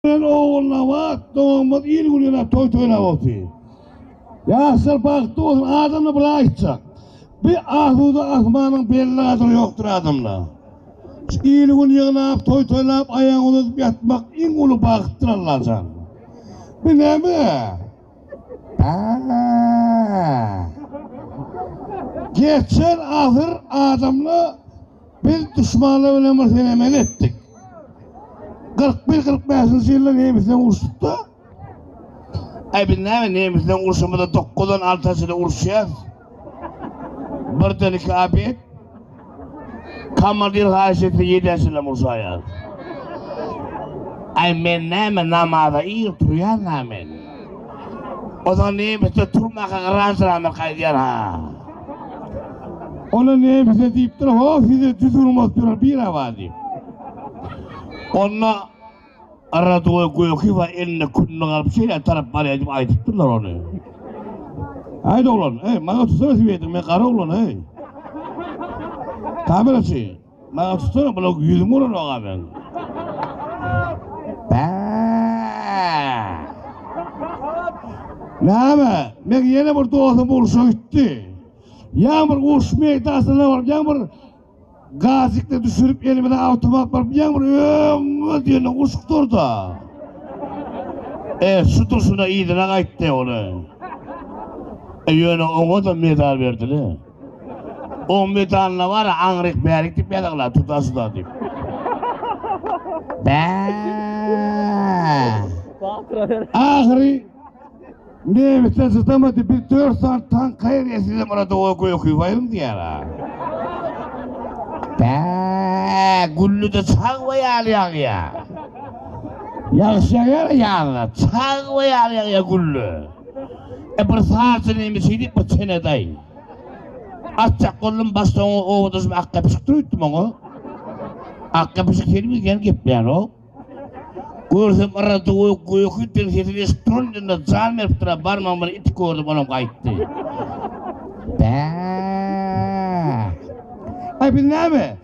Ýöne Ogulnabat doganymyz il gününe toý toýlap otyr. Ýaşlar bagtly bolsun adamda bir aýtjak. Bi asuda asmanyň belli gadyry ýokdur adamda. Şu il gün ýygnap toý toýlap aýagyny uzadyp ýatmak iň uly bagtdyr Allajan. Bi näme? Bäh! Geçen asyr adamda Biz duşmanlar bilen bir senemeli etdik. 41-45-nji ýylda nemes bilen uruşduk-da. Äý biz näme nemes bilen urşamyzda dokuzdan alta çenli uruşýas. Birden iki abet. Komandir haýyş etse ýedä çenlem urşaýas. Äý men näme namaza ir turýan-a men. Ozal nemisde turmaka garaşylandyr gaýdýar ha. Ony nemisde diýipdir ho size düz urmaz turar bir hawa diýip. Onda Radoý Gökiwa elinde kündük alyp şeýle tarap barýar diýip aýdypdyrlar ony. Haýt oglan, heý maňa tutsana swedri men gara oglan heý. Kameraçy, Maňa tutsana bula ýüzüň ulanok a men. Bä! Näme? Men ýene bir dostum urşa gitdi. Ýa bir uruş meýdansyna baryp, ýa bir gazikde düşürip elimize awtomat baryp, ýa bir öňe diýen uşuk durda. E, şu durşuna yzyna gaýtdy ony. E, ýöne oňa da medal berdiler. O medalna bar aňryk bärik dip ýazagla tutasyda dip. Bä. Ahyry Nebise sytamady biz dört saat tank kaýr ýesizem orada o gökü bayım diýär ha. Bä, gülli de çag we ýaly ýagýa. Ýagşy ýagýar ýazyna, çag we ýaly ýagýa gülli. E bir sazçy neme şeýdip bir çenadaý. Atjak boldum başda oňa oba düşüp ak gepişikdir öýtdüm oňa. Ak gepişik seni bilgen gepleýänok. Görsem yrra duwy göki den sesini eşip turan ýerinde jan beripdir a barmagym bilen itip gördüm onam gaýtdy. Bäh. Aý biz näme?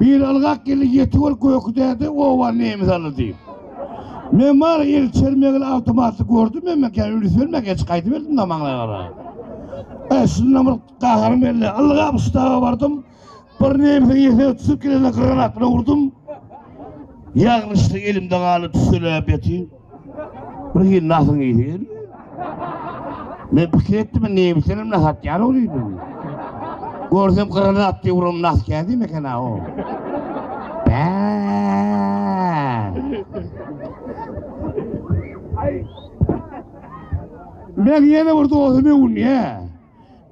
Bir ylgak geldi ýetik ol göki däde oba nemes aly diýip. Men bar el çermegini awtomatly gördüm men men kän ülüs bermän geç gaýdyp geldim da maňlaýa gara. E şunda bir gaharym geldi. Ylgap ştaba bardym. Bir nemesiň ýesine tutup gelende granat bilen urdum. Ýagnyşlyk elimde galdy tüsseläp ýatyn. Bir hili nasyň ýiti gelýär. Men pikir etdim, nemişenem nas atýar ol diýdim. Görsem gyrany atdy urum nas kädim eken ha o. Bä! Men ýene bir dostumy unyýa.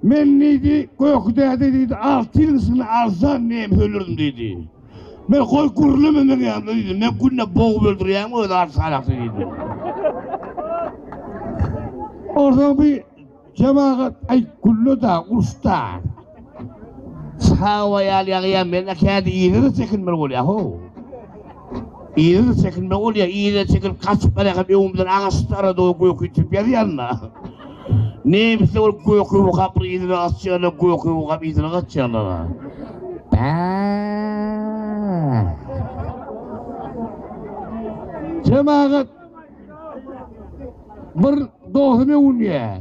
Men diýdi, Göki däde diýdi, alty ýylyň içinde alsaň näme hölerin diýdi. Men goý gürleme meň ýanymda diýdim. Men günde bogup öldürýäň özi alty salahsy diýdim. Onsoň bir jemagat aý gülläda, urşda. Hawa ýaly ýagýa men kädi ýere çekinmeli bolýa ho. Yzyna çekilme bolýar, yzyna çekilip gaçyp barýarkam öňümden agaç darady o göki tüp ýazýanda. Nemisler ol göki wokaply yzyna gaçýarlar, göki wokap yzyna gaçýarlar. Jemagat bir dosyny öwünýär.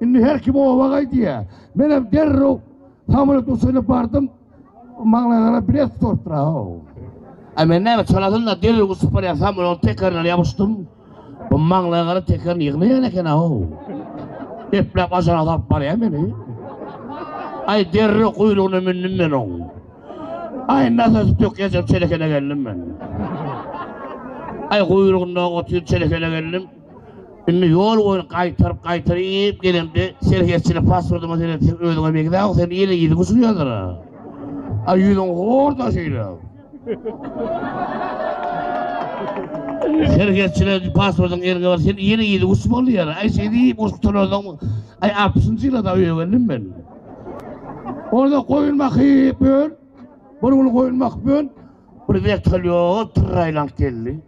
Indi her kim oba gaý diýýär. Menem derrew samolet uçuryna bardym. Maňa gara bilet tutupdyr aw. A men näme çalasynda derrew uçup barýan samoletiň tekerine ýapyşdym. Bu maňa gara tekerini ýygnaýan eken aw. Epläp ajana salyp barýar meni. Aý derrew guýrugyna mündüm men oň. Aý nasosy tökýänçäm çelekene geldim men. Aý guýrugynda otyr çelekene geldim. Indi ýol boýun gaýtaryp gaýtaryp iýip gelemde serhetçini pasportyma seretseň özüňe begdäw sen ýene ýüzüňi çyýadyr a. A ýüzüň horda şeýle. Serhetçine pasportyň eliňe bar sen ýene ýüzüňi uç bol diýýär. Aý şeý diýip uç tutanam aý altmyşynjy ýylada öýe geldim men. Onda goýun bakyp ýör. Bir gün goýun bakyp ýör. Bir wertolýot tyrraýlanyp geldi.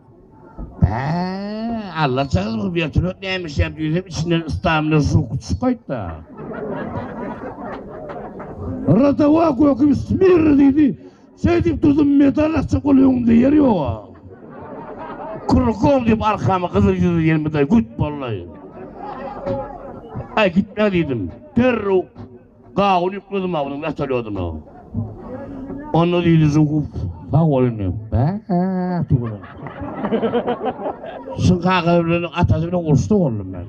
Hä-ä, allaçagyz bu wertolýot näme işlär diýsem, içinden ystamyna suw gutusy gaýtdy. Rotowa göküp smirr diýdi. Şeýdip durdum, medal açjak bolup öňümde ýer ýog-a. Krukom diýip arkama gyzyl ýüzli ýermedal güt boldy. Aý gitme diýdim. Derrew. Gawun ýükledim ha onuň wertolýodyna. Onda diýdi Žukow, sag bol indi. Bäh tüweleme. Şuň kakasy bilen atasy bilen uruşda boldum men.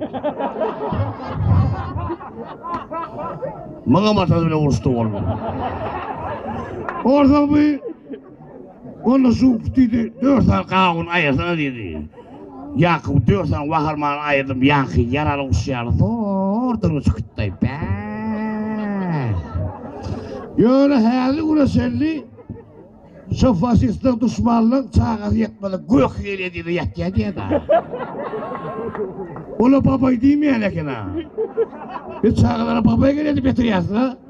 Muňam atasy bilen uruşda boldum. Onsoň bu Onda şu diýdi, dört sany gawun aýyrsana diýdi. Ýakup dört sany waharmany aýyrdym, ýaňky ýaraly guş ýaly zordygyny çykytdaý, bäh! Ýöne häzirki güne çenli şo faşistler, duşmanlar çagasy ýetmedik gök ýelýe diýdi, ýatýa diýdi-ä. Ola babaý diýmeýän eken-ä. Biz çagalara babaý gelýär diýip ýatyrýarys-a.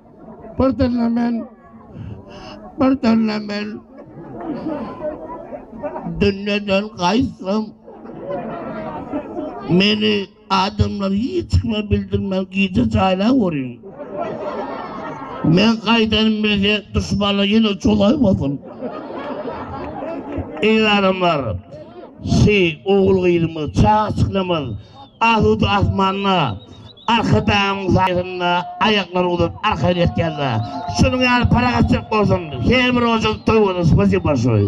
Bir dille men, bir dille men Dünneden gaýtsam Meni adamlar hiç kime bildirmän gije jaýlap görýän. Men gaýdan bilse duşmanlar ýene çolaýmasyn. Eýranymlar, siz ogul-gyzymyz, çaga-çyklamyz asuda asmanda Arkadagyň jaýynda aýaklary uzadyp arkaýyn ýatýarda. Şunuň ýaly parahatçylyk bolsun her bir ojuň toý bolsun spasiba bolşoý.